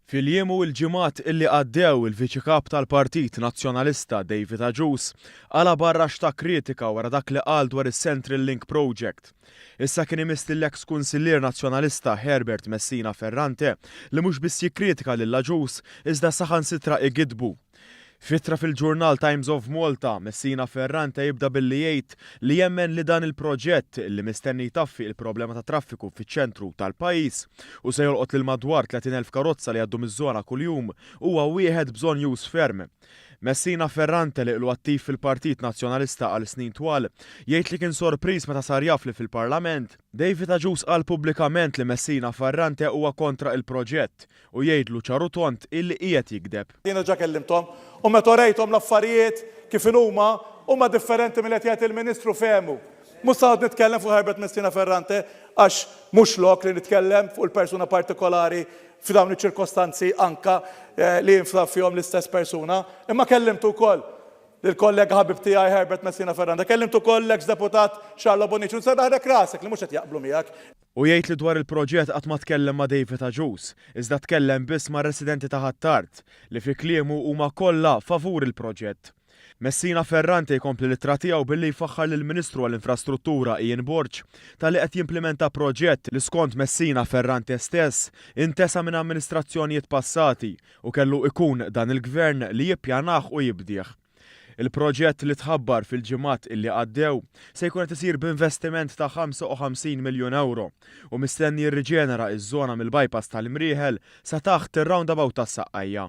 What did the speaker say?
Fil-jiem u l-ġimgħat illi għaddew, il-Viċi Kap tal-Partit Nazzjonalista David Agius qala' barra x'ta kritika wara dak li qal dwar is-Central Link Project. Issa kien imiss lill-eks Kunsillier Nazzjonalista Herbert Messina Ferrante li mhux biss jikkritika lil Agius iżda saħansitra igiddbu. F'ittra fil-ġurnal Times of Malta, Messina Ferrante jibda billi jgħid li jemmen li dan il-proġett, li mistenni jtaffi il-problema tat-traffiku fiċ-ċentru tal-pajjiż u se jolqot lil madwar 30 elf karozza li jgħaddu miż-żona kuljum, huwa wieħed bżonjuż ferm. Messina Ferrante li ilu attiv fil-Partit Nazzjonalista għal snin twal, jgħid li kien sorpriż meta sar jaf li fil-Parlament, David Agius qal pubblikament li Messina Ferrante huwa kontra il-proġett U jgħidlu ċar u tond illi qiegħed jigdeb. Jien diġà kellimthom u meta urejthom l-affarijiet kif inhuma, huma differenti minn li qed jgħid il-Ministru fehmu. Mhux se noqgħod nitkellem fuq Herbert Messina Ferrante għax mhux lok li nitkellem fuq il-persuna partikolari f'dawn iċ-ċirkostanzi anka li jinftaħ fihom l-istess persuna. Imma kellimtu wkoll lill-kollega ħabib tiegħi Herbert Messina Ferrante, kellimtu wkoll l-eks Deputat Charlo Bonnici u se naħrek rasek li mhux qed jaqblu miegħek. Hu jgħid li dwar il-proġett qatt ma tkellem ma' David Agius, iżda tkellem biss mar-residenti ta' Ħ'Attard, li fi kliemu huma kollha favur il-proġett. Messina Ferrante jkompli l-ittra tiegħu billi jfaħħar lill-Ministru għall-Infrastruttura Ian Borg talli qed jimplimenta proġett li skont Messina Ferrante stess intesa minn amministrazzjonijiet passati u kellu ikun dan il-Gvern li jippjanah u jibdieh. Il-proġett li tħabbar fil-ġimgħat illi għaddew se jkun qed isir b'investiment ta' 55 miljun ewro u mistenni jirriġenera ż-żona mill-bypass tal-Imrieħel sa taħt ir-roundabout tas-Saqqajja.